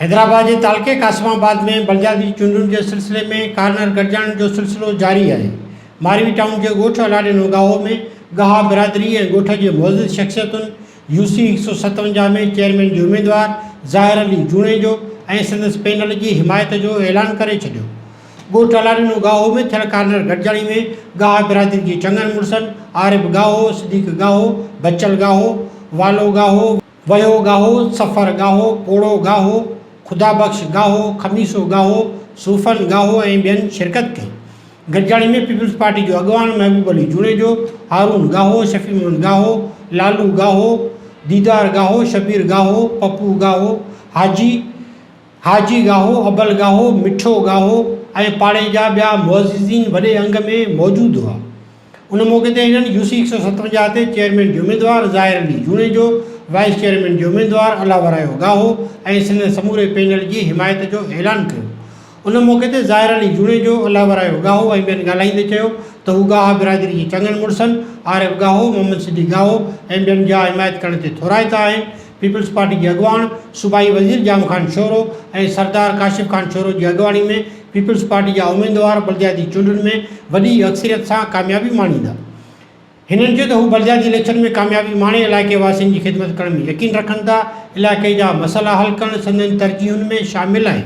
حيدرآباد جي تعلقي قاسم آباد ۾ بلدياتي چونڊن جي سلسلي ۾ ڪارنر گڏجاڻين جو سلسلو جاري آهي. ماروي ٽائون جي ڳوٺ الاڙي نوگاهو ۾ ڳاها برادري ۽ ڳوٺ جي معزز شخصيتن يو سي هڪ سؤ ستونجاهه ۾ چيئرمين جي اميدوار ظاهر علي جوڻيجو ۽ سندس پينل جي حمايت جو اعلان ڪري ڇڏيو. ڳوٺ الاڏينو ڳاهو ۾ ٿيل ڪارنر گڏجاڻي ۾ ڳاهه برادري جي چڱن مڙسن عارب ڳاهو، صديق ڳاهو، بچل ڳاهو، والو ڳاهو، وهيو ڳاهو، سفر ڳاهو، پوڙهو ڳاهو، خدا بخش ڳاهو، خميسو ڳاهو، صوفن ڳاهو ۽ ٻين شرڪت ڪئي. گڏجاڻي ۾ پيپلز پارٽي جو اڳواڻ محبوب علي جوڻيجو، هارون ڳاهو، شفيع محمد ڳاهو، لالو ڳاهو، ديدار ڳاهو، شبير ڳاهو، پپو ڳاهو، حاجي، حاجي ڳاهو، ابل ڳاهو، مٺو ڳاهو ۽ پاڙي جا ٻيا معززين وڏي انگ ۾ موجود هئا. ان موقعي تي هنن يو سي هڪ سؤ ستونجاهه تي چيئرمين جو اميدوار ظاهر علي جوڻيجو، وائيس چيئرمين جو اميدوار الاورايو ڳاهو ۽ سندن سموري پينل جي حمايت جو اعلان ڪيو. ان موقعي تي ظاهر علي جوڻيجو، الاورايو ڳاهو ۽ ٻين ڳالهائيندي چيو ته هو ڳاها برادري جي چڱن مڙسن عارف ڳاهو، محمد صديق ڳاهو ۽ ٻين جا حمايت ڪرڻ تي ٿورائتا آهن، پيپلز پارٽي جي اڳواڻ صوبائي وزير ڄام خان شورو ۽ سردار ڪاشف خان شورو جي اڳواڻي ۾ پيپلز پارٽي جا اميدوار بلدياتي چونڊن ۾ وڏي اڪثريت سان ڪاميابي ماڻيندا. هنن چيو ته هو بلدياتي اليڪشن ۾ ڪاميابي ماڻي علائقي واسين جي خدمت ڪرڻ ۾ يقين رکن ٿا، علائقي جا مسئلا حل ڪرڻ سندن ترجيحن ۾ شامل آهن.